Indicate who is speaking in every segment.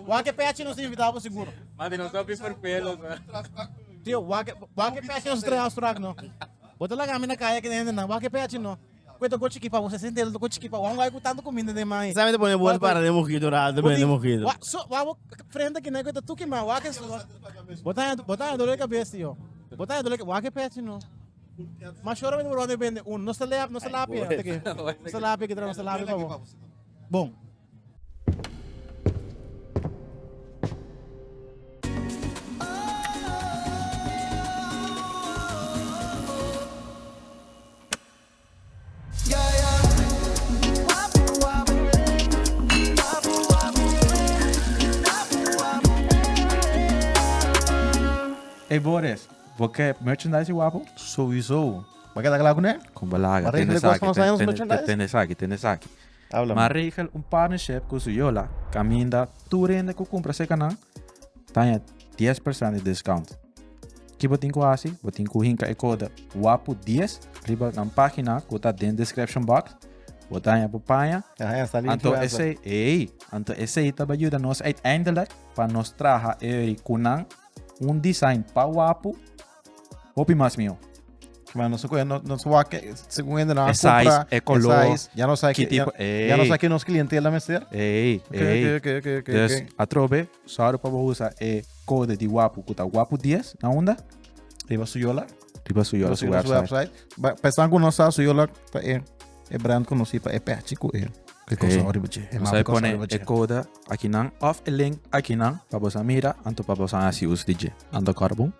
Speaker 1: Wak e pechi nos ta invitá bo sigur. Mandi nos ta pi perpelo. Tio, wak wak e pechi nos trae Austrac no. Bo ta laga mi na kaya ki hende nan. Wak e pechi no. Kue toko chiki pa bo se sentero toko chiki pa bo. Wan wai ku tanto kuminda den man. Sa mi ta pone bon para den mojito ral ta bende mojito. Wa so wa bo frente kina kue ta tuki man wak e sudor. Bo ta bo ta dolo e kabes tio. Bo ta dolo wak e pechi no. Mashora mi ta por wande bende un. Nos ta lea nos ta lapia teke. Nos ta lapia ki tra nos ta lapia pa bo. bon. Ey Boris, bo ke merchandise di Wapo? Souiso. Bo ke ta kla kuné? Kombo laga, tene esaki, tene esaki. Habla ma. Ma regel un partnership cu su yola caminda tur rende cu cumpra seca nan taña 10 percent di discount. Ki bo tin cu haci? Bo tin cu hinca e code WAPU 10 riba nan pagina cu ta den description box. Bo taña bo paña. Ajá, ya sali Anto influencer. esey, ey, anto esey ta bay yuda nos uiteindelijk pa nos traha eri cu nan un design pa WAPU Hopi mas mihó. Kima nos ta kohe, no- nos ta wak ke, segun hende nan a E size, compra, e color, e size, ya no sa ki ke, tipo, ya, ya no ey. sa ke nos clientela mester. Ey, Ok, ey. ok, ok, ok, ok, Dus, ok. atrobe, sorry pa bo usa e kode di Wapu, ku ta Wapu 10, na unda? Riba su yola. Riba su yola, su Riba su website. website. Ba- Pa esnan ku no sa, su yola ta e, e brand konosí pa e pèchi ku e, ku e kosao Ey. riba dje. E Nos mapa hay kosao pone riba e dje. kode akinan, of e link akinan, pa bosa mira, anto pa bosa hasi us di dje. Anto kòrbu.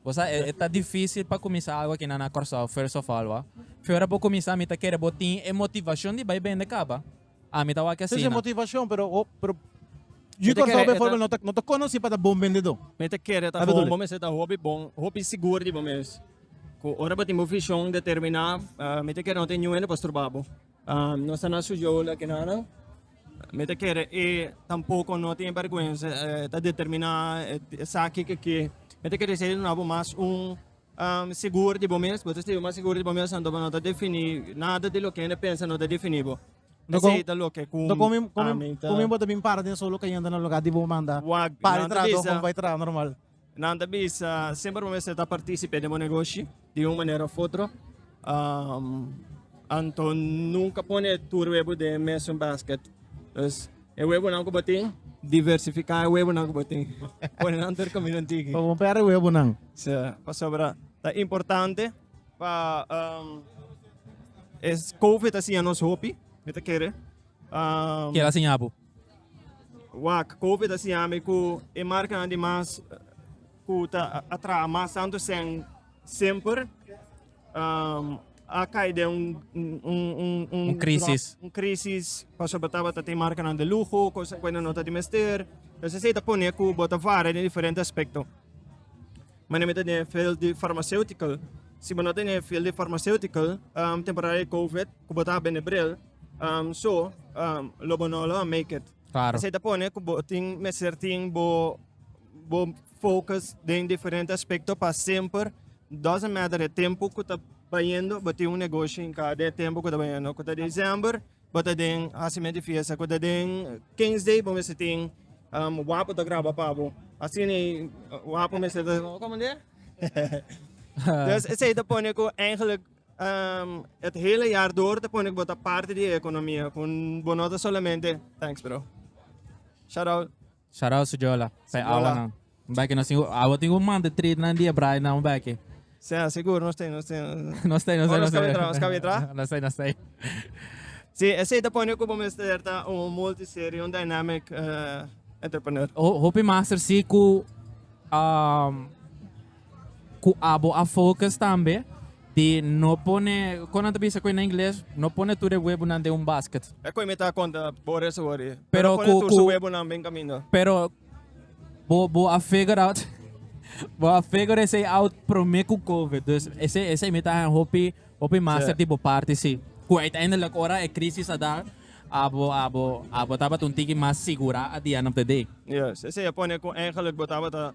Speaker 1: Bo sa e ta dificil pa cuminsa algo aki na na Corsao first of all wa. Fiora bo cuminsa mi ta kere bo tin e motivacion di bay bende caba. Ami ta wak asina. motivacion pero Yu Corsao bijvoorbeeld no ta no ta conoci pa ta bon bendedor. Mi ta kere ta bon bo mester ta hopi bon hopi sigur di bo mes cu ora bo tin bo vision determina mi ta kere no tin niun hende pa struba bo. Nos ta na su jou la kenana. Mi ta kere e tampoco no tin vergüenza eh, ta determina eh, esaki que que. Mi ta kere ser na bo mas un um, seguro di bo mes, bo ta ser mas seguro di bo mes anto bo no ta defini nada di lo que hende pensa no ta defini bo. No Ese con- ta lo que cu No come, a come, mi ta- come bota bin para den solo cayendo na lugar di bo manda Wag, para nan ta trabajo bisa. como para trabajo normal. Nan ta bisa semper bo mester ta participe den bo negoshi di un manera of otro. Um, anto nunca pone tur webo den mesun basket. Dus e webonan cu bo tin, diversifica e webonan cu bo tin. Pone nan tur camino antigi. Pa bon perde webo nan. So, pasobra ta importante pa um, es COVID ta siña nos hopi, mi ta kere. Um, Kel a siña bo. Wak, Covid a siña mi ku e markanan di mas ku ta a traha mas tantu esei semper a kai den un krisis, un krisis pasobra tabata tin markanan di luho, kos ku ain no ta di mester, entonces esei ta pone ku bo ta vara den diferente aspekto. Manera mi ta den field di farmaseutical, si bo no ta den field di farmaseutical temporada di Covid ku bo ta bini bril Um so um lo bo no lo a make it. Claro. Esei ta pone ku bo tin mester tin bo bo focus den diferente aspekto pa semper doesn't matter e tempo ku ta bayendo bo tin un negoshi in kada e tempo ku ta bayendo ku ta December bo ta den hasimentu di fiesta ku ta den King's Day bo mester tin um wapu ta graba pa bo asina wapu mester ta Como dia? dus esei ta pone ku eigenlijk et hele jaar door ta pone ku bo ta parti di e ekonomia ku bo no ta solamente Thanks bro. Shout out. Shout out Sujola pa e awa nan. Un bèk nos tin awa tin ku manda treat nan di e braai nan un bèk. Sea sigur nos tin nos tin. Nos tei nos tei nos tei. Nos kabe tra. Nos tei nos tei. Si esei ta pone ku bo mester ta un multiserie un dynamic entrepreneur. Hopi master si ku um ku abo a focus tambe di no pone kon nan ta bisa koe na ingles no pone tur e webunan den un basket. E koe mi ta konta por eso wori. Pero pone tur su webunan bin kaminda. Pero bo bo a figure out bo a figure esei out prome ku covid dus esei esei mi ta han hopi hopi master di bo parti si ku uiteindelijk ora e krisis a dar abo abo abo tabata un tiki mas sigura at di end of the day. Yes esei a pone ku eigenlijk bo tabata.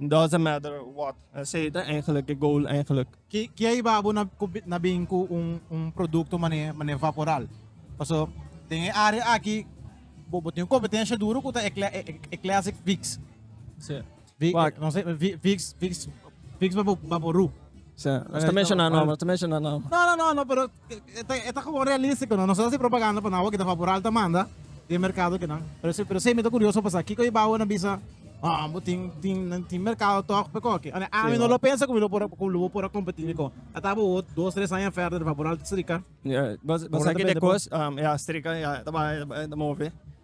Speaker 1: Doesn't matter what, esey ta eigenlijk de goal eigenlijk. Ki a iba bo na bin ku un produkto manera Vaporal? Paso den e área aki bo tin un kompetensha duru ku ta e classic Vicks, Vicks Vaporú. Nos ta menshoná nom. No no no pero. E ta gewoon realístiko no. Nos ta hasi propaganda pa nan awor kita fabural ta manda den e merkado kinan. Pero semi ta kurioso pasá kiko e bou a nan bisa, Oh, bo tin tin nan tin merkado tòg pa kòke. Anto ami no lo pensa ku mi lo por ku lo por a kompetí dikon. Ata bo wòrdu dos tres aña fèrder di fabural ta strika. Bo sa ke dje kos e a strika e a ta bai e ta move.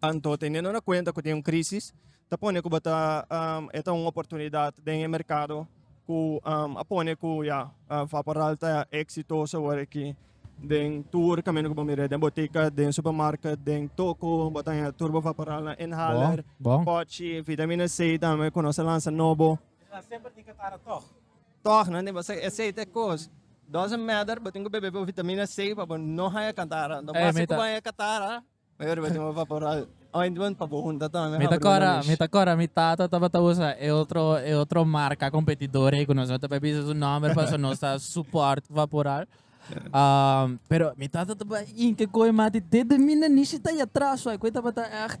Speaker 1: Anto, teniendo na cuenta cu tin un crisis, ta pone cu bo ta e ta un oportunidad den e mercado cu a pone cu ya, Vaporal ta exitoso awor aki. Den tur camino cu bo mira den botica, den supermarket, den Toco bo ta haya tur bo Vaporalnan, inhaler, Bon, bon. potchi, vitamina C tambe cu nos a lansa nobo. Nan semper tin catara tog. Tog nan tin basa esey ta e cos. Doesn't matter bo tin cu bebe bo vitamina C pa bo no haya catara. Ento basi cu bo haya catara mayor bo tin bo vapora ointment pa bo hunta tog nan habru nan mish. Mi ta cora mi tata tabata usa e otro e otro marca competidor ey cu nos no ta bay bisa su nomber paso nos ta support vaporal. Pero mi tata ta bay hinca coge mati dedo mi nan nishi ta y atras suai cu ey tabata echt.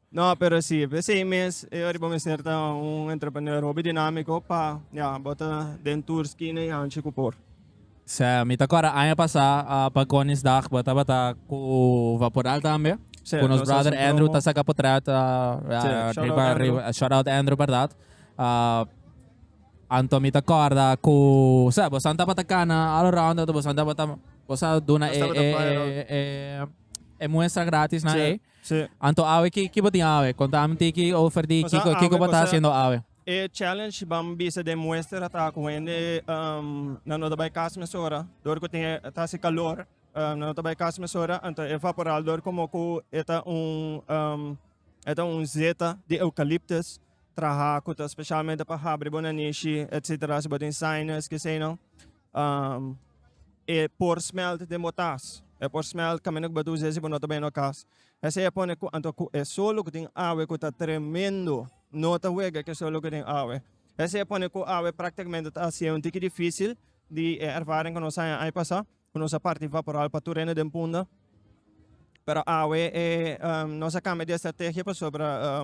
Speaker 1: No, pero si e seis mes e ora bo mester ta un entrepreneur hopi dinamiko pa ya bo ta den tur skina i hanchi ku por. Sè, mi ta kòrda aña pasá pa Koningsdag bo tabata ku Vaporal tambe, ku nos brother Andrew ta saka potrèt riba riba, shout out Andrew bèrdat. Anto mi ta kòrda ku sè bosan tabata kana all around anto bosan tabata bosa duna e e e e muestra gratisnan ei. Sí. Anto awe ki ki bo tin awe? Konta ami tin ki over di Kiko, Pasá Kiko awe, bo ta pasá hasiendo awe? E challenge ban bisa den muestra ta ku hende um nan no ta bai kas mesora dor ku tin e ta hasi kalor um nan no ta bai kas mesora anto e vaporal dor komo ku e ta un um e ta un zeta di eukaliptus traha ku ta spesialmente pa habri bo nanishi etsetera si bo tin sinus kesei no e por smelt den bo tas. E por smelt caminda cu bo ta usa si bo no ta bay na bo cas. Esey a pone cu anto cu e sol loke den awe cu ta tremendo no ta wega cu e sol loke den awe. Esey a pone cu awe practicamente ta haciendo un tiki dificil di e ervaring cu nos a haya ay pasa cu nos a parti vaporal pa tur hende den punda. Pero awe e nos a cambia di estrategia pasobra.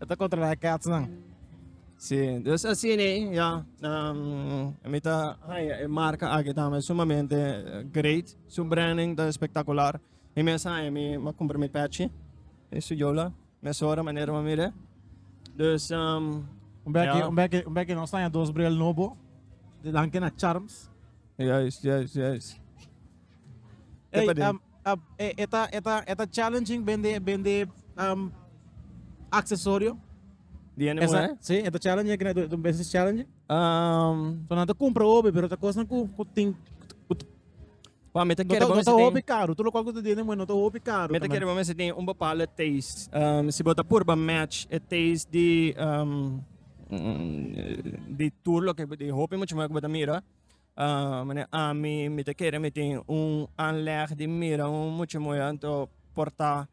Speaker 1: E ta controla e ketsnan. Si, dus asina ya. Um, mi ta haya e marca aki tambe sumamente eh, great. Su branding ta espectacular. Mi mes haya mi ma compra mi patchy. E su yola. Mesora manera ma mire. Dus, um, Un bek, Ja. un bek, un bek no staan dos bril nobo. De dan kena charms. juist, juist, juist. Hey, Tipa di- um, E ta challenging bende aksesorio. Di hende muhé? Sí, e ta challenging, e ta un business challenging. So nan ta kumpra hopi, pero ta kosnan ku tin. Wou, mi ta kere bo mester tin. No ta hopi karu, tur lokal ku ta di hende muhé no ta hopi karu. Mi ta kere bo mester tin un bapalde taste. Si bo ta purba match e taste di di tur loke di hopi mucha muhé ku bo ta mira. Mane ami mi ta kere mi tin un anleg di mira un mucha moe anto por ta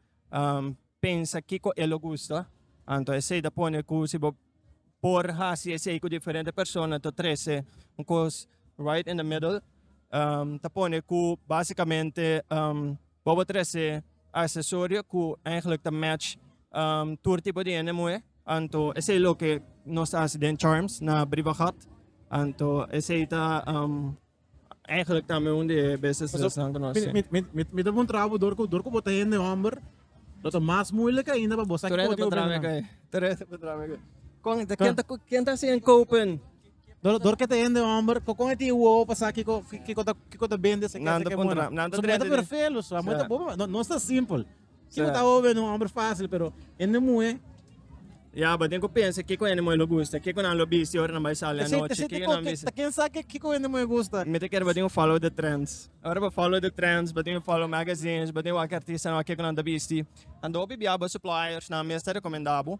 Speaker 1: pensa kiko e lo gusta anto esey ta pone ku si bo por hasi esey ku diferente persona ta trese un kos right in the middle ta pone ku basikamente. Bo por trece accesorio cu eigenlijk ta match tur tipo di hende muhe. Anto esey loke nos ta haci den Charms na Briva Gat. Anto esey ta eigenlijk tambe un di e businesses nan cu nos tin. Mi ta muntra bo dor cu bo ta hende homber lo ta mas moeilijk ainda pa bo sa cu bo tin pa bini nan. Tur hende por traha mi cu e. Con enta ken ta haci en Kopen? Dor, dor kete hende homber, ko kon eti uo pa sa kiko kiko ta kiko ta bende se Nan kete ta ke puntra- mona. nan ta So trete meta di- perfelo, so meta Sa. bobo, no no sta simple. Kiko Sa. ta obe no homber fácil, pero hende mue Ya, bo tin ku pensa kiko hende moe lo gusta, kiko nan lo bisti ora nan bai sali Te sei te anochi, sei te kiko ko nan te bisti. ta ken sa ke kiko hende mue gusta. Mi ta kere bo tin ku follow the trends. Ora bo follow the trends, bo tin ku follow magazines, bo tin ku wak artistanan wak kiko nan ta bisti. Anto hopi bia bo suppliersnan mes ta rekomenda bo.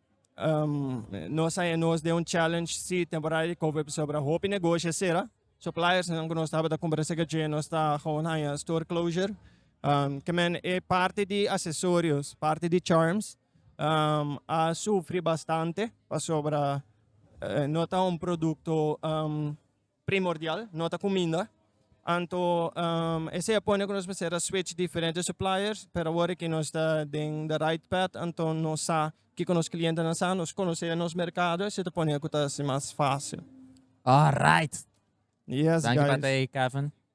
Speaker 1: Nos a nos den un challenge si temporada di covid pasobra hopi negoshi a sera suppliersnan ku nos tabata kombersa ku dje nos ta gewoon haña store closure kimen e parti di asesorios parti di charms a sufri bastante pasobra no ta un produkto primordial, no ta cuminda. Anto esey a pone cu nos mester a switch diferente suppliers, pero awor que nos ta den the right path anto nos sa kico nos clientenan sa, nos conoce nos mercado, esey ta pone cu ta haci mas facil. Alright! Yes guys! Danki pa ta ey Kevin.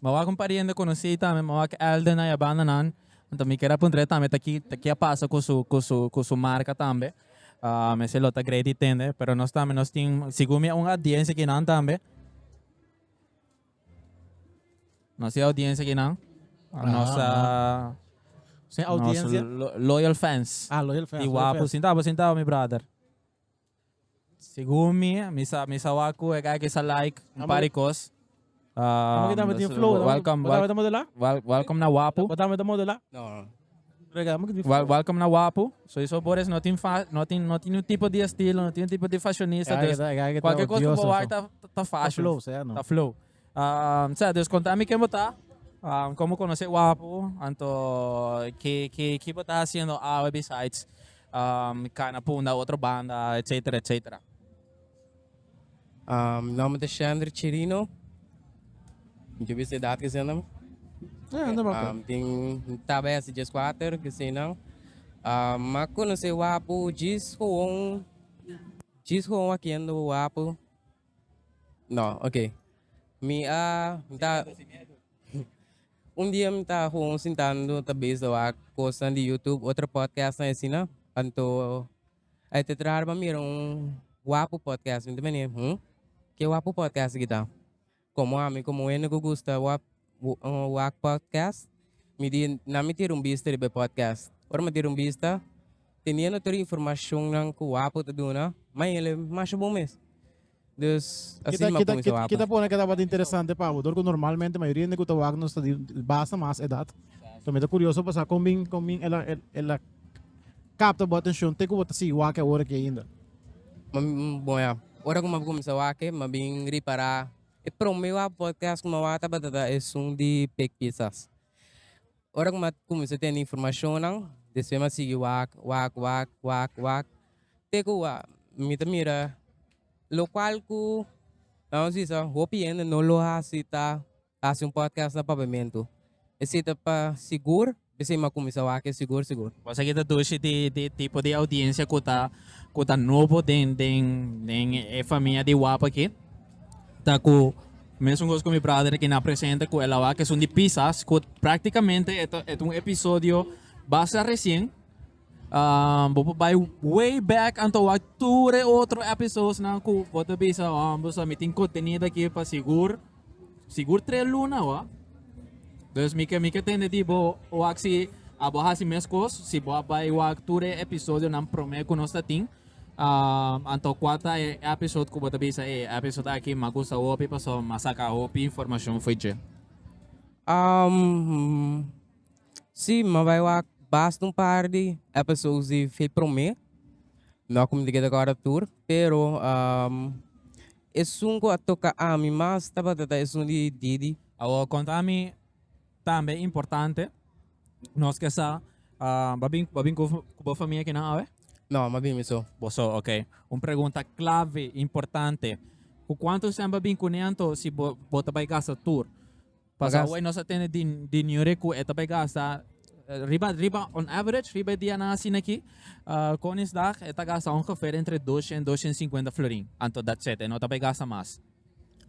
Speaker 1: Mawak un pariente conocí tambe mawak elder na yabanda nan. Anto mi keda puntra tambe ta ki ta ki a pasa cu su cu su cu su marca tambe. Uh, me se lo ta Grady tende, pero nos tambe nos tin segun mi un audiencia ki nan tambe. Nos tin audiencia ki nan. Uh, nos uh, Sin audiencia. Nos lo, loyal fans. Ah, loyal fans. Di wapu, sintabo, sintabo mi brother. Segun mi, mi sa mi sa wak ku e guy ke sa like un par di kos. Amo kita me tin Um, flow. welcome, Bota wel- bota modela. wel- welcome na Wapu. Bota bota modela. No. Rega, amo kita Wel- welcome na Wapu. So eso por es no tin fa no tin no tin un tipo di estilo, no tin un tipo di fashionista. Guy Dus kita- guy kita kualke kos ku bo odioso, wak so. ta ta fashion. flow, sea, no. Ta flow. Um, sea, dus konta mi ken bo ta, um, kon bo konosé Wapu, anto ki ki ki bo ta hasiendo awe besides um kana punda otro banda, etcétera, etcétera. Um, mi nòmber ta Shandri Chirino. Mi ta bisa edat ke sena. Ja, anda baka. Um, tin tabes jes kwater ke sena. Um, ma konosé Wapu jis gewoon jis gewoon wakiendo Wapu. No, ok. Mi a ta un dia mi ta gewoon sintando ta bezdo a cosnan di YouTube, otro podcast nan asina. Anto ai te traha riba mira un wapu podcast. Mi ta mene, hm? Ke wapu podcast aki ta? Como ami como wende cu gusta wap. wak podcast mi di nan mi tira un bista riba e podcast ora mi a tira un bista teniendo tur e informacionnan cu wapo ta duna mai el'e masha bon mes dus asi Kita, mi a kita, cuminsa kita, wapo. kita pone que tabata interesante pa bo, dor cu normalmente mayoría de cu ta wak nos ta di basta mas edad. So mi ta curioso pa sa con bin, con bin el a, el, el a capta bo atención te cu bo ta sigui wak ahora aquí ainda. Ma- mm, bon ya ora cu mi a cuminsa wak mi a bin ripara E prome wak podcast ku mi a wak tabata ta esun di Big Pizzas. Ora ku mi a kuminsá tene informashonnan, despues mi a sigui wak, wak, wak, wak, wak, te ku a mi ta mira lokual ku nan nos bisa hopi hende no lo hasi ta hasi un podcast na papiamentu. Esei ta pa sigur. Bisei m'a kuminsá wak e sigur sigur. Kos aki ta dushi di e tipo di audiensia ku ta ku ta nobo den den den e famia di wap aki. Ta ku mesun kos ku mi brother aki na presenta ku el a wak esun di pisas ku praktikamente e ta e ta un episodio basta resien. Um, bo por bai way back anto wak tur e otro episodes nan ku bo ta bisa um, bo sa mi tin contenido aquí pa sigur sigur tres luna wa dus mi ke mi ke tende di bo wak si a bo hasi mes kos si bo a bai wak tur e episodio nan prome ku nos ta tin um, anto kwata e episode ku bo ta bisa e episode aki ma gusta hopi paso ma saka hopi informacion foi dje. Um, Sí, mi bai wak basta un par di episodes di fe promé, no a kuminti keda kòrda tur, pero esun ku a toka ami mas tabata ta esun di Didi. Awor konta mi tambe importante nos ke sa bo a bin bo a bin ku bo famia akinan awe? No, mi a bin mi so. Bo so, oke. Un pregunta klave, importante, ku kuantu semper a bin kuné anto si bo bo ta bai gasta tur? Paso Pagas. awor nos a tene di, di niure cu e ta bay gasta eh, riba, riba, on average, riba e dianan asina aquí, ah, Koningsdag, e ta gasta ongeveer entre 200, 250 florin. Anto that's it, e no ta bay gasta mas.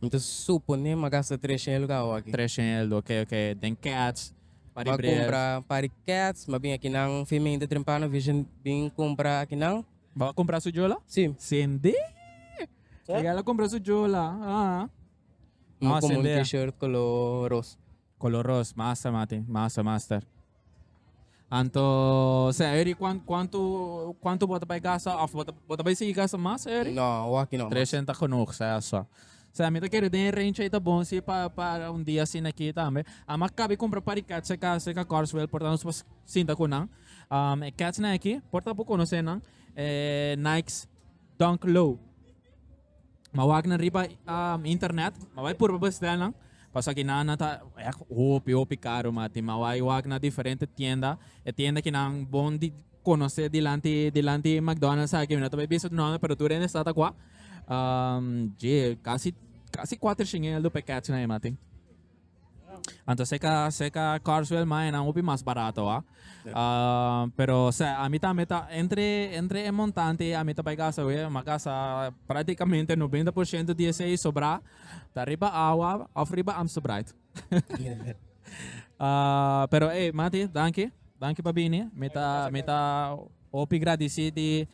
Speaker 1: Entonces supone m'a gasta 300 el lugar awor aki. 300, ok, ok, den cats, pa M'a ribrel. compra un par di cats, m'a bin aki nan femein ta trempa no vision bin compra aki nan. Bo a compra su jola? Sí. Sende! Ella la compra su jola. Ah. Mo Masa komo un bea. t-shirt kolo ros. Kolo ros, masa mati, masa master. Anto sea Eric kuan kuantu kuantu bo ta bai gasta of bo ta bo ta bai sigui gasta masa Eric? No, awaki no mas. Treshent ta genoeg sea so. Sea mi ta kere den e range ei ta bon si pa pa un dia asina aki tambe. Amo a kabe kumpra par di cats aka cerca Carswell por ta nos pas sinta ku nan. E catsnan aki por ta bo konosé nan e Nikes Dunk Low. M'a wak nan riba internet, m'a bai purba bestel nan, pasobra kinan nan ta èk hopi hopi karo mati. M'a bai wak na diferente tienda, e tienda ki nan bon di konosé dilanti dilanti e mcdonalds aki, mi no ta bai bisa su nòmber pero tur hende sa ta kua. Dje, kasi kasi kuater shingel do pekètnan ei mati. Anto seca, seca Carswell mae nan hopi mas barato ah. Uh, pero se a mi también ta entre entre e montante a mi ta bai gasa we, ma gasa prácticamente 90% di ese sobra ta riba agua of riba Amsterbright. uh, pero hey, Mati, danki. Danki pa bini. Mi ta mi ta hopi gradeci di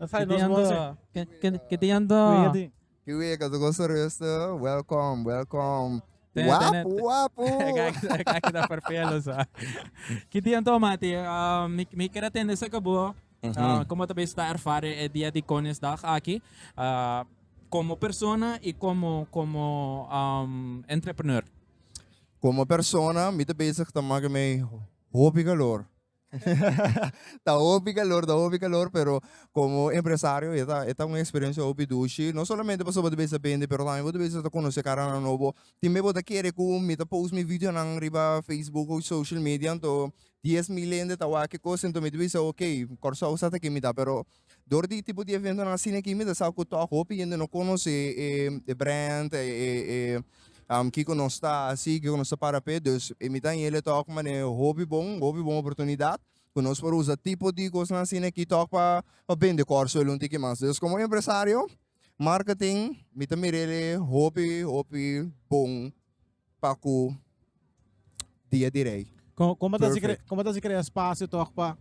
Speaker 1: Ke te yanda? Ke, ke, ke te yanda? Ke wea ka su goso rustu? Welkom, welkom. Te, tene, Wapu, wapu! Kaki, kaki ta ferfelo sa. Ke te yanda, mati? Um, mi, mi kere tende sa ke bo. Uh, komo ta bes ta erfare e Dia di Koningsdag aki, uh, komo persona i komo, komo, um, entrepreneur? Komo persona, mi ta bezig ta make mi hopi kalor. ta hopi calor, ta hopi calor, pero como empresario e ta e ta un experiencia hopi dushi, no solamente pasobra bo ta bisa bendi pero tambe bo ta bisa ta conoce caranan nobo, tin me bo ta kere cu mi ta post mi videonan riba Facebook o social media anto dies mil hende ta wak kicosa, anto mi ta bisa ok Kòrsou sa ta aki mi ta pero Dor di e tipo di eventonan asina aki mi ta sa ku tòg hopi hende no konosé e brand, kiko nos ta hasi, kiko nos ta para p'e. Dus e mi ta hañ'e tòg manera di hopi bon, hopi bon oportunidat ku nos por usa tipo di kosnan asina aki tòg pa bende Kòrsou el un tiki mas. Dus komo un empresario, marketing, mi ta mir'el hopi, hopi bon. Pa ku dia di rei. Kon, kon bo ta hasi kre, Perfect. kon bo ta hasi krea spasio tòg pa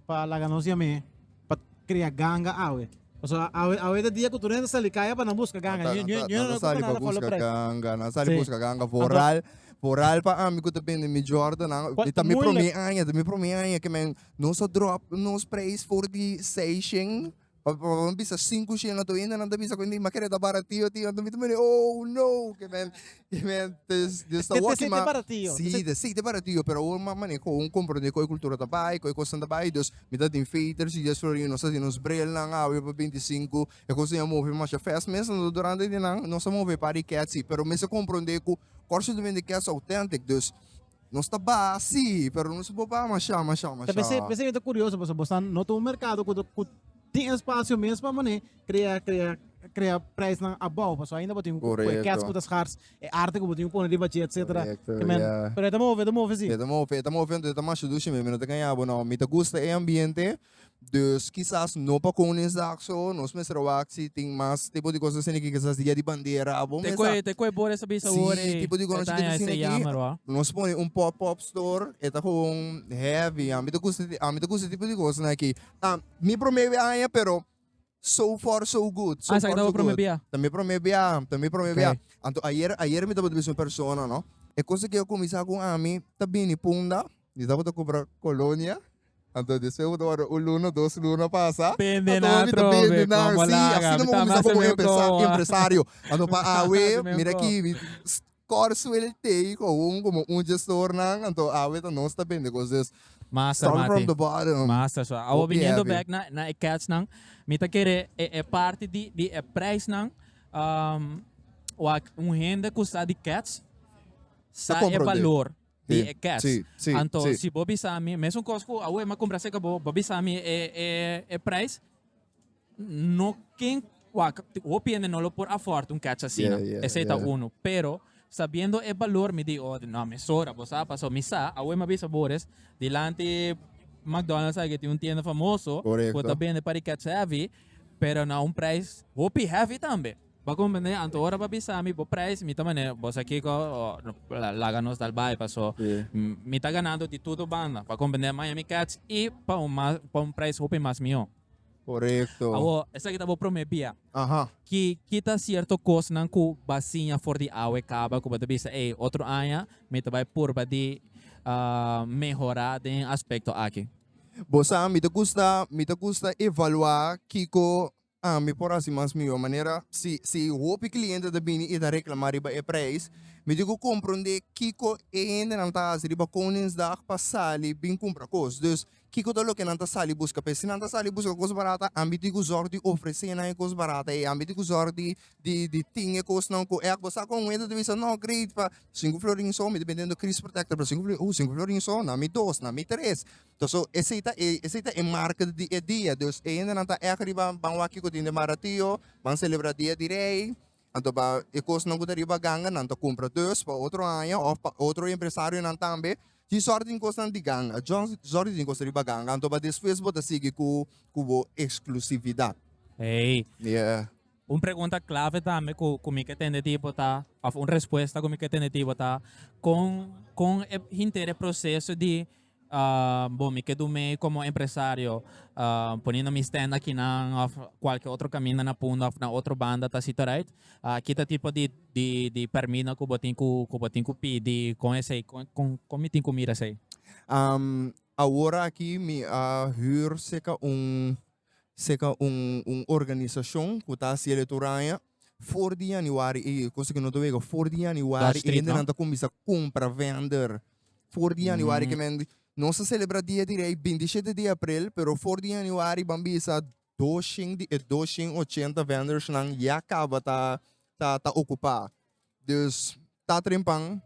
Speaker 1: pa laga nos yam'é pa krea ganga awe? Pasobra a- awe awe ta dia ku tur hende ta sali kaya pa nan buska ganga. Nan ta, Ñu nan ñu ta, ñu nan ta sali pa buska presa. ganga, nan sali Sí. buska ganga. Anto- Vooral, vooral pa ami ku ta bende mi Jordan nan, Por mi ta mi moeilijk. promé aña, ta mi promé aña ke men nos a drop nos preis for di seis shing. Pa pa mi bisa sinku shina tu inda nan ta bisa ku mi m'a kere ta baratio tin anto mi ta miri ooh no ke men ke men ta Dios ta wokki ma si te aseite baratio pero awor m'a mane ku awor komprende ku e kultura ta bai ku e kosnan ta bai Dios mi ta tin feter si Dios florindo nos ta hasi nos brelnan awe pa binti sinku e kosnan a move masha fast mes anto durante di nan nos a move e par di kèt si pero mi a komprende ku kòrsitumente kèt so autentic dus Nos ta baha si, pero nos bo baha masha, masha, masha. Ta p'esei, p'esei mi ta curioso, pasobra bo sa no ta un mercado cu ta, cu tin espacio mespa manera crea, crea, crea prijsnan above, pasobra ainda bo tin cu cu e cats cu ta schaars, e arte cu bo tin cu pone riba dje, etcetera, ke men, pero e ta move, e ta move si. E ta move, e ta move, entonces e ta masha dushi mi, mi no ta ganja bo no, mi ta gusta e ambiente, Dus kisas no pa con e zak so nos mester a wak si tin mas tipo di cos asina ki kisas dia di bandera abo Te mesa. koe, te koe bor esa bisa wor si e. tipo di E conosci ta tin asina ese ki jammer wou. nos pone un pop pop store e ta gewoon heavy ami ta gusta ami ta gusta e tipo di cos na ki ta mi prome aña pero so far so good. So ah, sa far, so good. Bia. Ta mi prome bia, ta mi prome bia. Anto ayer, ayer mi tabo te un persona, no? E cosa que yo comienza con ami, ta bini punda, mi tabo te compra colonia, anto después we ora un luna, dos luna pasa. Pende na tro, pende na, sí, así no me comienza como empresa, empresario. Anto pa awe, mira aquí, kòr suelté i kowon komo un gestornan anto awe ta nos ta bende kos des Master starting Mati. from the bottom Master so awo hopi biniendo heavy. back na na e catchnan mi ta kere e e parti di di e prijsnan um wak un hende ku sa di catch Ta sa e komprondé. balor Si, di e catch si, si, anto si. si bo bisa mi mesun kos ku awe mi a kumpra seka bo bo bisa mi e e e prijs no ken wa hopi hende no lo por afford un catch asina yeah, yeah, esei yeah. ta uno pero sabiendo e valor mi di oh no mi sora bo sa paso mi sa awe ma bisa bores dilanti McDonald's agi tin un tienda famoso Correcto. ta bende para catch heavy pero na un prijs hopi heavy tambe Bo a comprende anto ora bo a bisa mi bo prijs mi ta mane bo sa kico laga nos dal bai paso mi ta ganando di tudo banda bo a comprende Miami Cats y pa un mas pa un prijs hopi mas miho. Correcto. Awor esaki ta bo prome bia ki ki ta cierto cosnan cu bo a siña for di awe caba cu bo ta bisa ey otro aña mi ta bai purba di mehora den aspecto aki? Bo sa mi ta gusta mi ta gusta evalua kico Ah, mi por hasi mas mihó manera. Si, si hopi kliente ta bini i ta reklamá riba e preis, mi tin ku komprondé kiko e hendenan ta hasi riba Koningsdag pa sali bin kumpra kos. Dus, kiko ta loke nan ta sali buska p'e? Si nan ta sali buska kos barata, ami tin ku zòrg di ofresé nan e kos barata ei. Ami tin ku zòrg di, di, di tin e kosnan ku ei. Bo sa kon wenda ta bisa, No, great, pa sinku florin so mi ta bende un kris protèkter. Pero sinku florin, uh, sinku florin so? Na mi dos, na mi tres. So esei ta e esei ta e marka di e dia dus e hendenan ta èk riba ban wak tin den baratio ban selebrá dia di rei anto ba e kosnan ku ta riba ganga nan ta kumpra dus pa otro aña òf pa otro empresarionan tambe tin sòrt di kosnan di ganga sòrt di tin kos riba ganga anto ba despues bo ta sigui ku ku bo eksklusividat. Eey. Un pregunta clave tambe cu cu mi ke tende di bo ta of un respuesta cu mi ke tende di bo ta con con e hinter e proceso di bon mi ke do mei como empresario poniendo mi stand akinan of cualkier otro caminda na punta of na otro banda ta asito right aki ta tipo di di di permino cu bo tin cu cu bo tin cu pidi con esey con con mi tin cu mira esey. Awor aki mi a huur seca un. seca un un organisacion cu ta haci electoraña for di januari y cosa que no ta wega for di januari y hende nan ta cuminsa cumpra vender for di januari que men nos ta celebra dia di rey binti shete di april pero for di januari ban bisa doshen di doshen ochenta vendors nan ya caba ta ta ta ocupa dus ta trempan.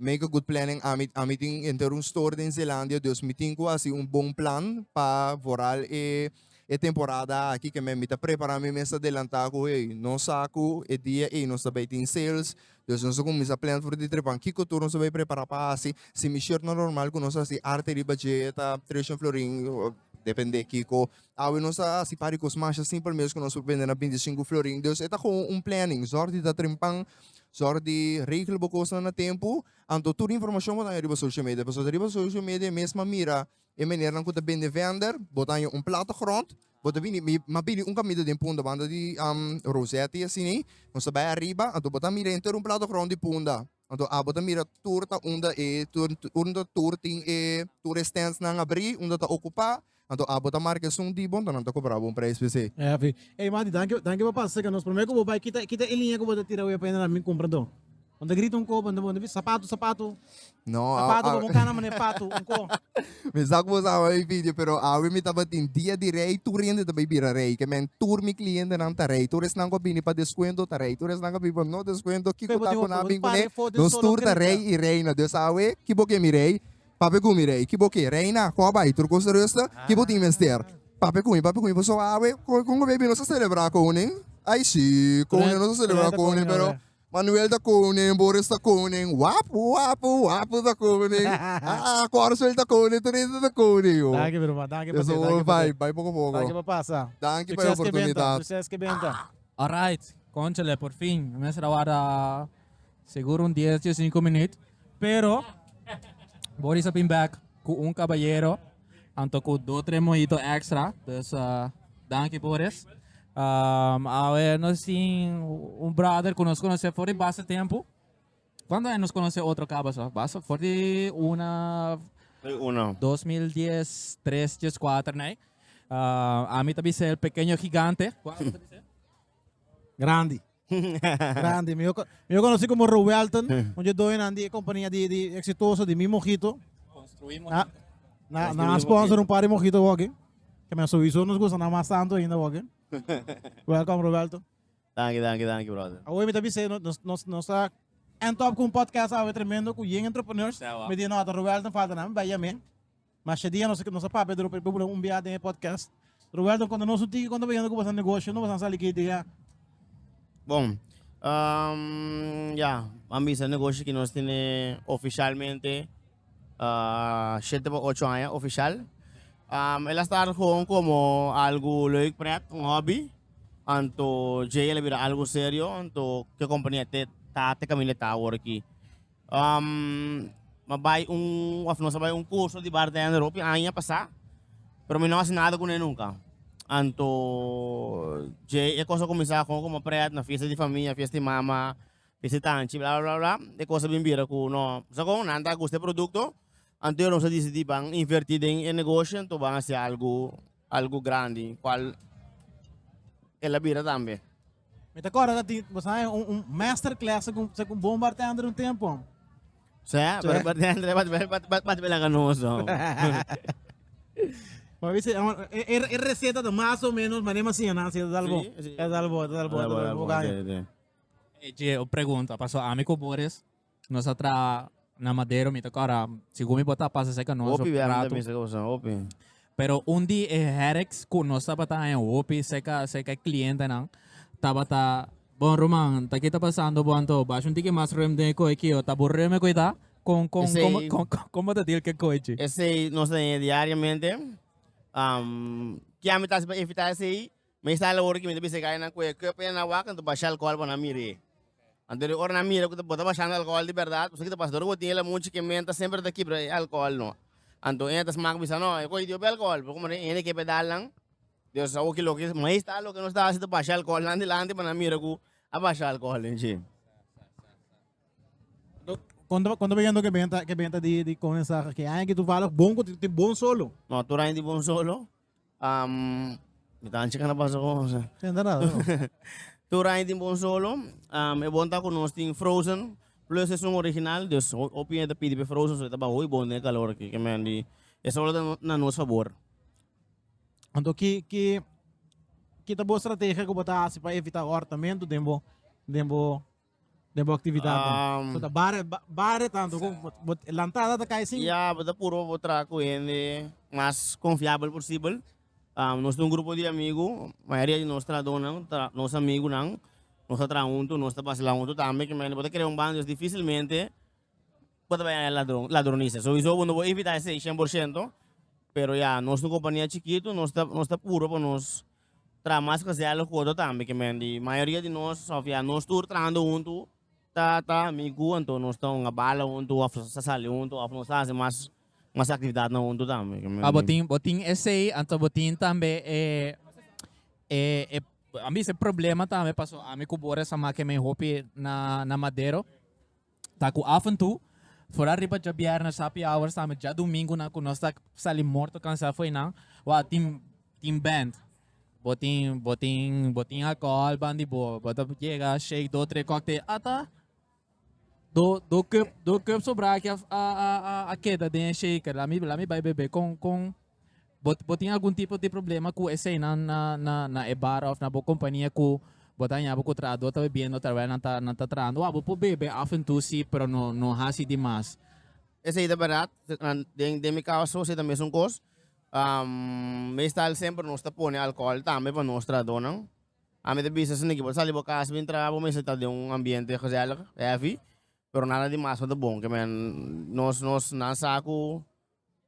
Speaker 1: Make a good planning ami ami tin enter un store den Zeelandia dus mi tin ku hasi un bon plan pa voral e e temporada aki ke mi ta prepara mi mes adelanta ku hey nos sa ku e dia ey nos ta bay tin sales dus nos ta kuminsha plan for di trepan kiko tur nos ta bay prepara pa hasi si mi shirt no normal ku nos hasi arte riba dje ta tres shon florin o depende kiko Awe nos a hasi par di kos masha simpel mes ku nos por bende na binti sinku florin. Dus e ta kon un planning. Zòr di ta trempan, zòr di regla bo kosnan na tempu, anto tur informashon bo ta haña riba social media. Pasobra riba social media e mes a mira e menernan ku ta bende vender, bo ta haña un plata grond, bo ta bini mi mi a bini un kaminda den punda banda di Rosette i asini. Nos ta bai ariba, anto bo ta mira henter un plata grond di punda. Anto abo ta mira tur ta unda e tur unda tur tin e tur e stands nan abri unda ta okupa anto abo ta marka esun di bo anto nan ta kobra bo un prijs p'e se. E afi. Ey Mati danki danki pa pasa seka nos prome ku bo bai kita kita e liña ku bo ta tira wea pa yende nan bin kumpra anto bo ta grita un ko bo ta bo ta bisa sapatu sapatu No a sapatu a. komo un kana mane patu un ko. Mi sa ku bo sama mi video pero awe mi tabatin dia di rei tur hende ta bai bira rei ke men tur mi klientenan ta rei tur esnan ku a bini pa deskuento ta rei tur esnan ku a bini pa no deskuento kiko ta ku nan a bin kuné nos tur ta rei i reina dus awe ki bo ke mi rei papia ku mi rei ki bo ke reina kò bai tur kos ta rusta ki bo tin mester papia ku mi papia ku mi paso awe kon kon a baby nos a selebrá koning ai shi koning nos a selebrá koning pero. Manuel ta koning, Boris ta koning, wapu, wapu, wapu ta koning, aa, Corswell ta koning, tur esnan ta koning, ho. Danki broer, danki pa den, danki pa den. Bai poko poko. Danki pa pasa. Danki pa e oportunidat. Succes ke benta. Alright, conchale por fin. E mester a warda seguro un dies, dies i sinku minuut. Pero Boris a bin back cu un caballero. Anto cu do tres mojito extra. Dus uh, danki por es. Um, awe nos tin un brother cu nos conoce for di base tempo. Quando é nos conoce outro caba só? Base for di una... Una. 2010, 3, 10, 4, né? Uh, a mim também ser pequeno gigante. Grande. Grandi. Mi yo conocí como Rowelton. Un yo doy nan di compañía di, di exitoso di mi mojito. Construimos. Na, na, na sponsor un par de mojito hockey. Que me sowieso nos gusta na mas tanto ainda hockey. Welcome Roberto. Dank je, dank je, dank je brother. Awe mi tabi se nos nos nos ta en top con podcast awe tremendo cu yen entrepreneurs. Me di no, Roberto falta na, ben ya me. Masha dia nos nos a papia dor por bubulan un biaha den e podcast. Roel don konta nos un tiki konta bayendo ku boso negosio, no boso sali ki idea. Bon, um, ya, a bisa negosio ki nos tine oficialmente uh, shete pa ocho aña oficial. Um, el a start gewoon como algo leuk pret, un hobby. Anto Jay el a bira algo serio, anto ke compañía te ta te camine ta ahora ki. Um, ma bai un, of nos a bai un curso di bartender hopi aña pasá, pero mi no haci nada cune nunca. Anto, dje e cosa cuminsá con como pret na fiesta di famia, fiesta di mama, fiesta di tanchi, bla, bla, bla, bla. E cosa bin bira cu no, sa con, nan ta gusta e producto, anto e nos a dicidí ban invertí den e negoshi, anto ban haci algu, algu grandi, cual el a bira tambe. Mi ta corda tin bo sabe un un master class segun segun bon bartender un tempo. Sí, pero Sí. bartender bat bat bat bat bat bela ganoso. Maar wie zei, er, er, er receta de más o menos, maar neem maar zien, als je dat al bo. Sí, sí. Dat al bo, dat al bo, dat al bo, ga je. Eje, o pregunta, paso ami ko Boris, Nos a traha na Madero, mi ta kòrda, sigur mi por ta pasa cerca nos Hopi op wèm rato. también, sa ka pasan, hopi. Pero un di e headaches ku nos tabata haña hopi cerca cerca e clientenan tabata Bon Roman, ta ki ta pasando bo anto? Basha un tiki mas rem den e koe kio. Ta aburrido mi e koe ta? Kon kon Esei- kon kon kon kon bo ta deal ku e koe chi? Esei nos ta haña diariamente. Am, ke ami ta hasi pa evitá esei? Meestal ora ki mi ta bisa e gainan ku e kup ena wak mi ta basha alkohol pa nan mir'é. Anto di ora nan mira ku bo ta bashando alkohol di bèrdat pasobra kita pasador ku bo tin e lamuchi ke menta semper ta kibra e alkohol no. Anto e ta smak bisa no e koyo di hopi alkohol pero komo e hende ke pedal nan Dios a sa hoki loke meestal loke nos ta hasi ta basha alkohol nan dilanti pa nan mira ku a basha alkohol den shi. Konta konta bigento ke benta ke benta di di kondensaha ke aña aki toevallig bon ku tin bon solo. No tur aña tin bon solo. Um, mi ta ancha cana pasa con José. Tenta nada, no. Tur aña tin bon solo. Um, e bon ta con nos tin Frozen. Plus es un original, dus ho- hopi gente pidi pe Frozen, so e ta bahoy bon den calor aquí, que men di, e solo ta no- na nos favor. Anto ki ki ki ta bo estrategia ku bo ta hasi pa evita ahortamiento den bo den bo de bo actividad um, so ta bare bare tanto con bot lantada ta cae sin ya bota puro bo tra cu hende mas confiable posible um, nos un grupo de amigo mayoría de nos tra donan tra nos amigo nan nos tra junto nos ta basla junto tambe que men bota crea un bando es dificilmente bota ben ladron ladronisa so iso no bo evita ese 100% pero ya nos un compañía chiquito nos ta nos ta puro pa nos Traha mas konsèl ku otro tambe ke men di mayoria di nos òf ya nos tur trahando huntu ta ta amigu anto nos ta unda bala huntu òf sa sali huntu òf nos ta hasi mas mas aktividatnan huntu tambe ke men Ah, bo di. tin bo tin esei, anto bo tin tambe e e e a mi bisa e problema tambe paso ami ku Boris a make men hopi na na Madero. Ta ku afentu, fora riba djabièrnè, sapi awor sami djadumingu nan ku nos ta sali morto kansá afó einan, wou tin tin band, bo tin bo tin bo tin alkohòl ban di bo, bo ta yega shake dos tres kòktel ata do do kup do kup sobrá aki a a a keda den e shaker la mi la mi bai bebe kon kon Bo, bo tin algun tipo di problema ku eseinan na, na, na e bar of na bo kompania ku bo ta hañabo ku trahadó ta bebiendo terwijl nan ta, nan ta trahando? Wa bo por bebe af en tu si, pero no, no hasi di mas. Esei ta bèrdat. Den, den mi kaba so, esei ta mesun kos. Um, meestal semper nos ta pone alkohòl tambe pa nos trahadónan. Ami ta bisa, Siniki, bo ta sali bo kas bin traha, bo mester ta den un ambiente gezèlig, hèfi, pero nada di mas no ta bon. Ke men, nos, nos, nan sa ku.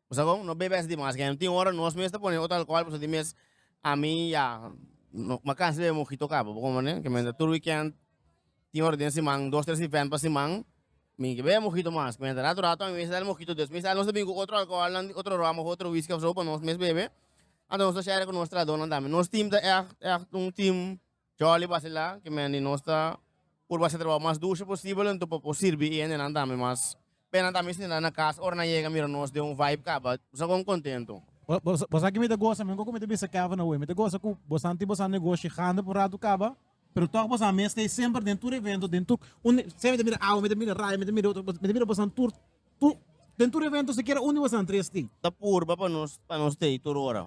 Speaker 1: Pasobra kon no bebe asina mas kende tin ora nos mes ta pone otro alcohol pasobra tin mes ami ya no a cansa di bebe mojito ka bo komo ne kimente tur weekend tin ora den siman dos tres event pa siman mi ke bebe mojito mas kimente rato rato ami mes ta dal mojito dus mes nos ta bini ku otro alcohol nan di otro rum of otro wisky afe pa nos mes bebe anto nos ta share ku nos trahadonan tambe nos team ta echt echt un team. Jolly basila ki men di nos ta por basa trabou mas dushi posibel entu por por sirbi i hendenan tambe mas p'e nan tambe sinti nan na kas ora nan yega mira nos den un vibe kaba sa kon kontentu. Bo sa ki mi ta gosa men ku ku mi ta bisa Kevin awe mi ta gosa ku bosan tin bosan negoshi grandi por un ratu kaba pero tog bosan mes stay semper den tur evento den tur un sea mi ta mira awe mi ta mira Ryan mi ta mira otro mi ta mira bosan tur tur den tur evento sikiera un di bosan tres tin ta purba pa nos pa nos stay tur ora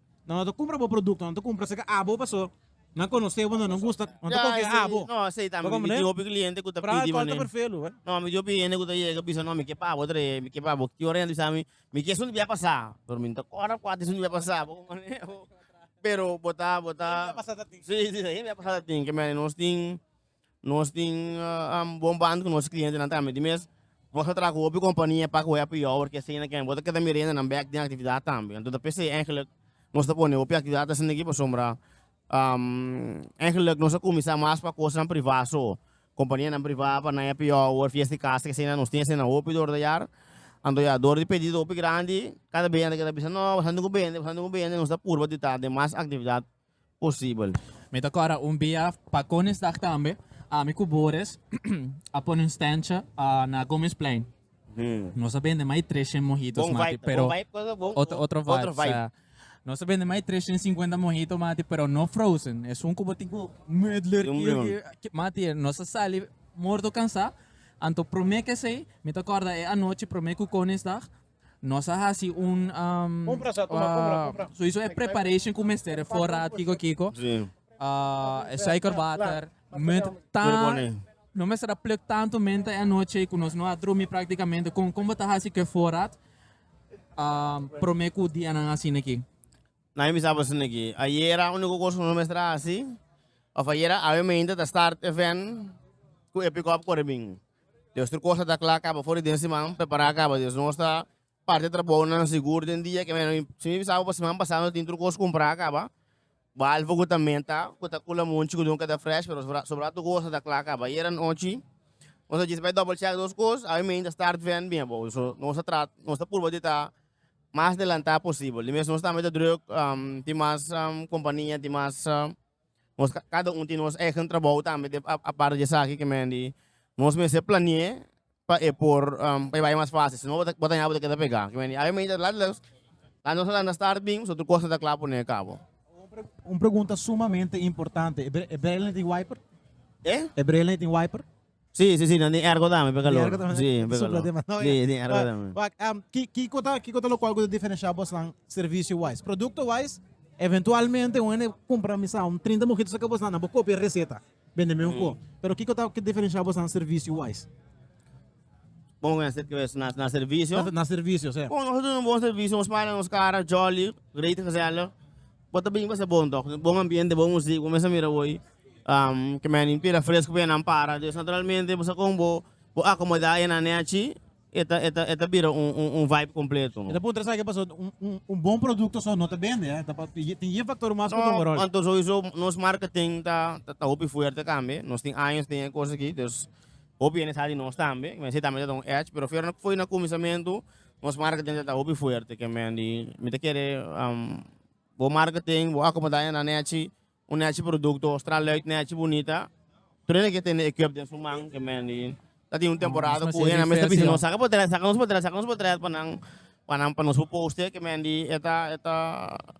Speaker 1: No no ta cumpra bo producto no ta cumpra si ca abo paso nan conoce bo no no gusta no ta confia in abo no asey ta mi tin hopi cliente cu ta pidi manen no mi tin hopi hende cu ta yega bisa no mi ke pa abo trei mi ke pa abo cu ora yanda bisa mi mi ke esun debia pasa pero mi no ta cora cua ta esun debia pasa bo pero bo ta bo ta si si ayen debia pasa ta tin keme nos tin. Nos tin un bon band ku nos klientenan tambe. Di mes nos a traha ku hopi kompania pak wea pi jobber ke esei nakiba. Bo ta keda mira yendenan bek den aktividat tambe. Anto ta p'esei eigenlijk nos ta pone hopi aktividat esenteki pasobra eigenlijk nos a kuminsá mas pa kosnan privá so. Kompanianan privá pa nan happy hour, fiesta di kasa, ke esei nan nos tin hasinan hopi dor di ayar. Anto ya, dor di pedido hopi grandi, kada bey nan ta keda bisa no, boso anto ku bende, boso anto ku bende, nos ta purba di ta den mas aktividat. posibel. Mi ta kòrda un bia pa Koningsdag tambe ami ku Boris a pone un stèntje na Gomesplein. Nos a bende mai tres shen mohitos mati pero otro vibe. Nos a bende mai tres shen sinkuenta mohito mati pero no frozen es un ku bo tin ku medler kiu mati nos a sali morto kansá anto promé kesei mi ta kòrda e anochi promé ku Koningsdag Nos a hasi un soiso e preparation ku mester e fora kiko kiko e suiker water munt tan no mester a pluk tantu menta e anochi ku nos no a drumi praktikamente kon kon bo ta hasi ku e forat prome ku dianan asina aki. Nan bisa bo esnan aki, ayera unico cos cu nos mester a haci, of ayera awe mente ta start e ven cu e pick-up a core bin. Dios tur cos a ta cla caba for di den siman, prepara caba. Dios nos ta parti e trabounan sigur den dia aki. Mi mi bisa bo pa siman pasa nos tin tur cos cumpra caba, balve cu ta menta cu ta cul amunchi cu dunca ta fresh pero so sobra tur cos a ta cla caba. Ayera anochi nos a djis bay double check dos cos, awe mente start ven bin abo. So nos ta trat nos ta purba di ta mas delantá posibel. Di mes nos tambe ta druk, um, tin mas um, kompania, tin mas um, nos ka- kada un tin nos eigen trabou tambe de a- aparte di esaki ke men di nos mester planeé pa e por um, pa e bai mas fácil, si no bo ta bo ta ña bo ta keda pegá. Ke men di awe meinta lat lus la nos a lanta start bin so tur kos no ta kla pon'é kabo. Un pregunta sumamente importante, e bre- e brele tin wiper? E? E brele tin wiper? Si, si, si, nan tin ergo tambe, p'e calor. Si, p'e calor. Si, tin ergo tambe. Wak, em, ki, kiko ta, kiko ta locual cu ta diferencia bosnan servicio wise? Producto wise, eventualmente un hende cumpra mi sa un trinta mojitos a cabosnan, nan bo copia e receta, bende mi un co. Pero kiko ta diferencia bosnan servicio wise? Bon, cu hesed que es na, na servicio? Na servicio, sí. Bon, nos ta duna un bon servicio, nos para nos cara jolly, great, gezellig. Bo ta bini pasa bon tok, bon ambiente, bon muzik, bo mester mira hoy ke menin pila fresco pa enan para, dus naturalmente bo sa kon bo bo acomoda enan neachi e ta e ta e ta bira un un un vibe completo. Mi ta puntra esaki e pasobra un un un bon producto so no ta bende a ta tin yin factor mas ku ta juga rol. No anto souiso nos marketing ta ta hopi fuerte tambe, nos tin años den e cos aki, dus hopi hende sa di nos tambe, men si tambe ta ta un edge, pero fiero na foi na cuminsamentu Nos marketing ta ta hopi fuerte ke men di mi ta kere bo marketing bo akomodá e na nechi un nechi produkto straluit nechi bunita tur hende ke tende ekwip den su man ke men di ta tin un temporada ku hende a mester bisa nos saka potret saka nos potret saka nos potret pa nan pa nan pa nos por poste ke men di e ta e ta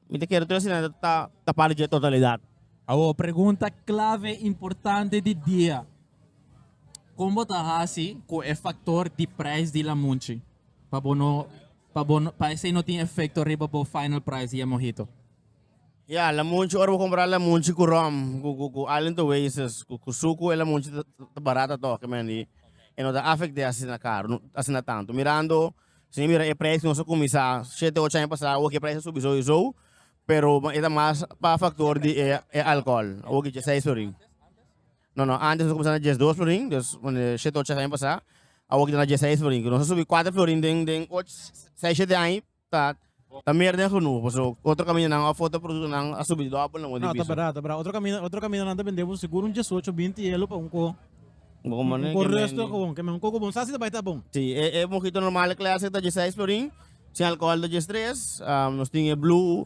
Speaker 1: mi ta kere tur asina ta ta ta parte dje totalidat. Awor pregunta clave importante di dia Kon bo ta hasi ku e faktor di prijs di lamunchi pa bo no pa bo pa esei no tin efekto riba bo final prijs di e mohito? Ya, lamunchi, ora bo kompra lamunchi ku rom ku ku ku Island Oasis ku ku suku e lamunchi ta ta barat a toke men i e no ta afekt'é asina karu asina tantu. Mirando si mi mira e prijs ku nos a kuminsá shete ocho aña pasá awor ke e prijs a subi sou i sou pero e ta mas pa faktor di e e alkohol awor ke dje seis per ahí. No, no, antes nos a cuminsa na diesdos florin, dus pone shete ocho aña pasa, awor kita na diesseis florin, cu nos a subi cuater florin den den och seis shete aña ta ta mer den genuho, pasobra otro camindanan of otro productonan a subi dobel nan di No, ta piso. bera, ta bera, otro caminda otro camindanan ta bende bo seguro un diesocho, binti elo pa un coho, Bo como un ne coho que resto de mendi. cohonan, que men un coho cu bo no sa si ta bay ta bon. Si, e e mojito normal e clase ta diesseis florin, sin alcohol ta diestres, nos tin e blue,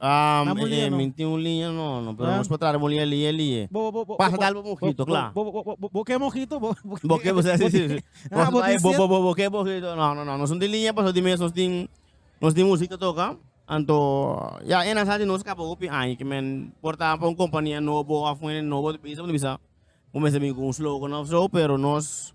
Speaker 1: Um, Na mulia, eh, no. minti un liña, no, no, pero Ah. nos pa trata de mulia, liña, liña. Bo, bo, bo, bo, Pasa bo- tal bo mojito, bo- claro. Bo, bo, bo, bo, bo, que mojito, bo, bo, Bo que bo, sí, sí, sí. Ah, Nos bo, vai, bo, dice- bo, bo, bo, que bo, que- no, no, no, nos de liña, pero de mes nos tin, nos tin música toca. Anto, ya, en asante nos capa hopi año, que men, porta pa un compañía nobo, afuera nobo, de bisa, de bisa, como se bin con un slogan of so, pero nos,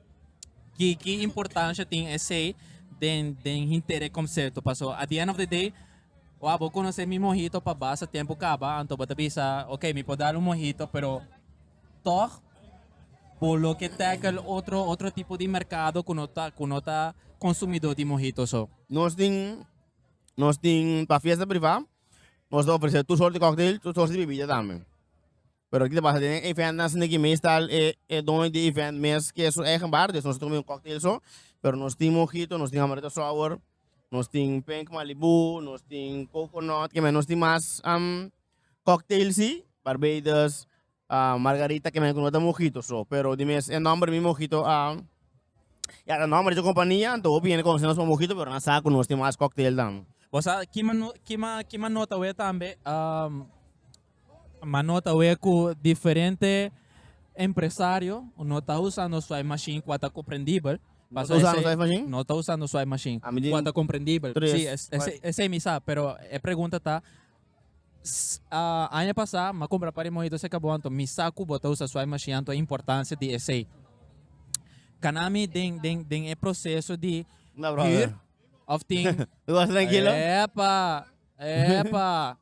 Speaker 1: Kiki importancia tin esey den den hinter e concerto paso at the end of the day wak bo conoce mi mojito pa basa tempo caba anto bo ta bisa ok mi por dal un mojito pero toch bo loke tackle otro otro tipo di mercado cu no ta cu no ta consumidor di mojito so. Nos tin nos tin pa fiesta priva nos ta ofrece tur soort di cocktail tur soort di bebida tambe. Pero aki ta basa den e event nan sneki meestal e e doño di event mes ke su eigen bar dus nos ta kome un cocktail so pero nos tin mojito nos tin amaretto sour nos tin pink malibu nos tin coconut ke men nos tin mas cocktail si barbados margarita ke men kono ta mojito so pero di mes e nomber mi mojito ya ta nomber di e compania anto hopi hende conoce nos pa mojito pero nan sa ku nos tin mas cocktail dan. Bo sa kima no kima kima nota wea tambe Ma no ta wea ku diferente empresario no ta usando swipe machine kua ta komprendibel. No ta usando swipe machine? No ta usando swipe machine Ami di kua ta komprendibel. tres Si, es- esei, swipe. esei mi sa, pero e pregunta ta, s- a, aña pasá m'a kumpra par di mojito seka bo anto mi sa ku bo ta usa swipe machine anto importansia di esei. Kana mi den, den, den e proseso di No problem. hür of tin. Goza trankilo. Epa, epa.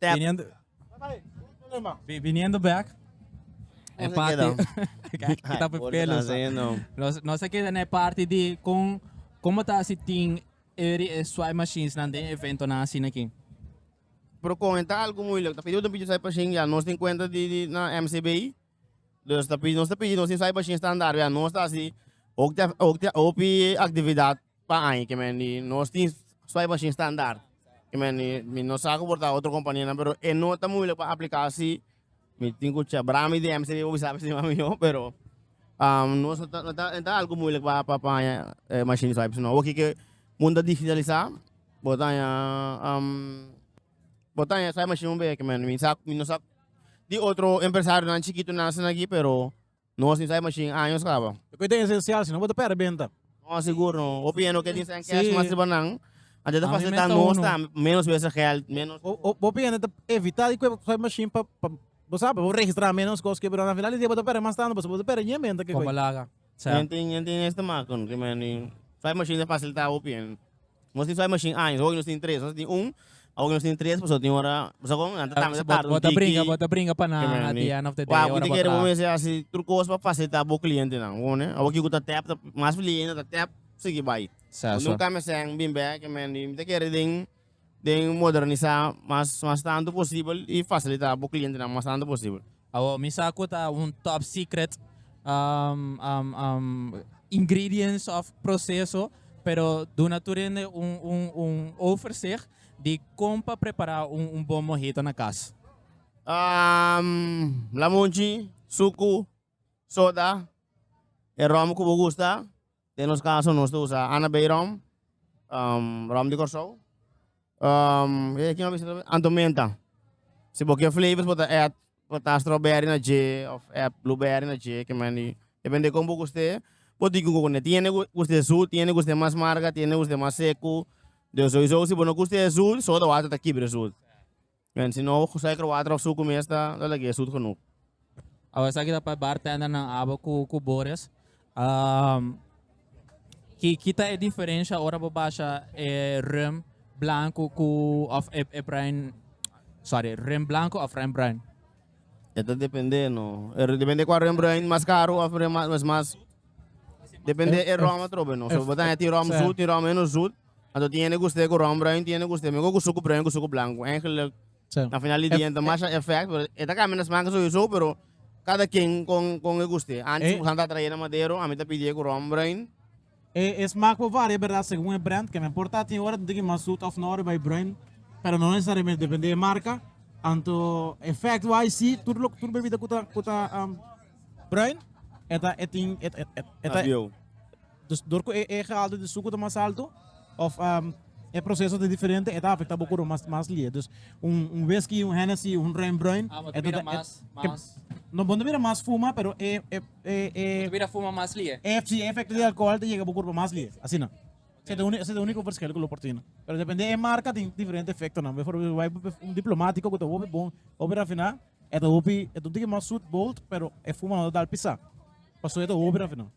Speaker 1: Viniendo, viniendo back. E parte. Kita pe pelo. Nos nos keda na parte di con como ta si tin eri e swipe machines nan den evento nan asina aquí. Pero con e ta algo moeilijk. Ta pidi un bici swipe machine ya nos tin cuenta di di na MCBI. Dus ta pidi nos ta pidi nos tin swipe machine standaard ya nos ta si ook ta ook ta hopi actividad. Pa aña ke men di nos tin swipe machine standaard ke men di mi no sa ku por ta otro kompania nan pero e no ta muilik pa aplika si mi tin ku chabra mi di msb bo bisa si mami yo pero nos no ta no ta no ta algu muilik pa pa haña e mashini swipe sino awor ki ke mun ta digitalisa bo ta haña bo ta haña swipe mashine un be ke men di mi sa mi no sa di otro empresario nan chikitu nan asina aki pero No así sai machine años caba. Cu e den esencial si no bo ta perde benta. No sigur no. Hopi hende oke tin sa en cash mas riba nan. Antes ta facilita nos ta menos wese geld menos. Hopi hende ta evita di cu e sai machine pa pa bo sabe bo registra menos cos cu pero na final di dia bo ta perde mas tando pasobra bo ta perde ñe benta. Como laga. Yen tin yen tin estimado con kimen di sai machine ta facilita hopi hende. Nos tin suai machine aña, so hopi nos tin tres, nos a tin un, awo nos tin tres pasobra tin ora, boso kon? Nan ta tanga ta tarde un tiki. Bo ta bringa, bo ta bringa pa na at di end of the day ora bo traha. Bo ta kere bo mester hasi tur kos pa fasilita bo klientenan, bo konde? Awo kiko ta tèp, ta mas lihenda ta tèp, sigui bai. Sa, sa. Unda un kamiasèn bin bèk, e mende mi ta kere den. den modernisá mas mas tantu posibel i fasilitá bo klientenan mas tantu posibel. Awor mi sa ku ta un top secret ingredients òf proseso, pero duna tur hende un un un overzicht di kon pa prepará un bon mohito na kas. Lamunchi, suku, soda, e ròm ku bo gusta, Den nos caso nos ta usa Anna Bay Rum, um, Rum di Corsou. Um, e aquí no bisa también Anto Menta. Si bo ke flavors bo ta add, bo ta strawberry na je of add blueberry na je, que meni. Depende con bo guste. Bo di con ne tiene gu- guste zoet, tiene guste mas marga, tiene guste mas seco. Den sowieso si bo no guste zoet, soda water ta kibre zoet. Men si no suiker water of suku mes ta ta lag'e sut genug. Awe esaki ta pa bartender nan abo cu cu bores. Um, ki ki ta e diferencia ora bo basha e rum blanco cu of e e bruin sorry rum blanco of rum bruin? E ta depende no, e depende cua rum bruin mas caro of rum mas mas depende e rum atrobe no, so bo ta tin rum zoet tin rum menos zoet. Anto tiene guste ku ron bruin, tiene guste meko ku suku bruin ku suku blanku. Eigenlijk, Sí. na final di dia, Ef- ta masha effect, pero e ta kambia na smaak sowieso, pero kada ken kon, kon e guste. Antes, Eh. ku Santa traía na Madero, ami ta pidié ku ron bruin. E, e smaak por varia, berdat, segun e brand, ke no importa tin ora di ki mas sut of no riba e bruin, pero no nesesariamente, depende e marka. Anto effect wise si, tur lo, tur bebida ku ta, ku ta, am, bruin, e ta, e tin, e, e, e, e ta, Abieu. Dus dor cu e e gehalte di sucu ta mas alto of e proceso ta diferente e ta afecta bo coro mas mas lie. Dus un un whisky, un Hennessy, un Renbruin Ah, bo ta e ta bira ta e mas, ke mas. no bo no ta bira mas fuma pero e e e e Bo ta bira fuma mas lie. e si e efecto di alcohol ta yega bo cuerpo mas lie. Asina. Esey ta esey ta unico verschil cu lo por tine. Pero depende e marca tin diferente efectonan. Bifor bifor bay bay un Diplomático cu ta hopi bon, hopi rafina e ta hopi e ta un tiki mas zoet bold pero e fuma no ta dal pisa. Pasobra e ta hopi rafina.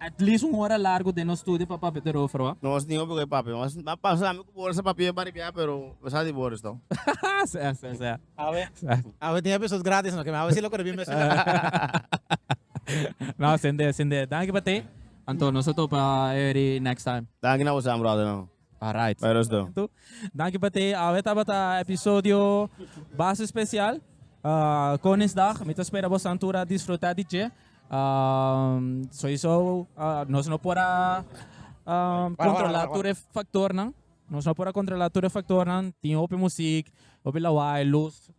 Speaker 1: At least un ora largo den nos studio pa papia te rover wa. Nos tin hopi cu e papia mas a pasami cu Boris a papia pa ripiaha pero mi sa di Boris to. Sea sea sea. Awe awe tin episode gratis no ke mi awe si lo coribin mes esa. No sende sende danki pa te. Anto nos ta topa Eri next time. Danki na bosan brother. Alright. Bai rust do. Tu, danki pa te. Awe tabata episodio base special. ah, Koningsdag. Mi ta spera boso a tur a disfruta di dje. Ah, sowieso ah, nos no por a ah, Para, para, controla para, para. tur e factornan. Nos no por a controla tur e factornan. Tin hopi muziek, hopi lawai, luz.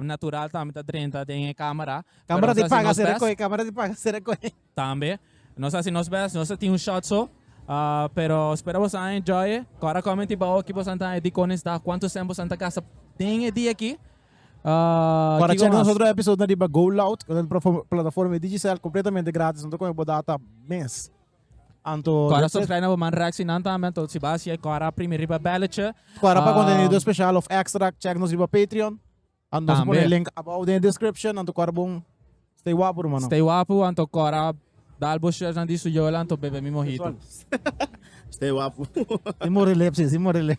Speaker 1: natural tambe ta drenta den e camera. Camera di paga si recohe, camera di paga si recohe. Tambe. Nos a haci nos best, nos a tin un shot so. Uh, pero spera boso a enjoy. Cora comment y bao ki boso a ta di cones da cuanto cent boso a ta gasta den e dia ki. Uh, Para check nosotros episode na riba Go Loud, con el plataforma Digicel completamente gratis, no te coge bo data mes. Anto Cora that's it. subscribe na bo man reactie nan tambe anto si bas ye Cora primi riba belletje. Cora pa contenido Um, special of extra check nos riba Patreon. Anto nos a pone Tambe. link above den e description. Anto Cora bon stay wapo rumano. Stay wapu anto Cora dal bo chef nan di su yola anto bebe mi mojito. Stay wapu. Sin morilip, sí, sin morilip.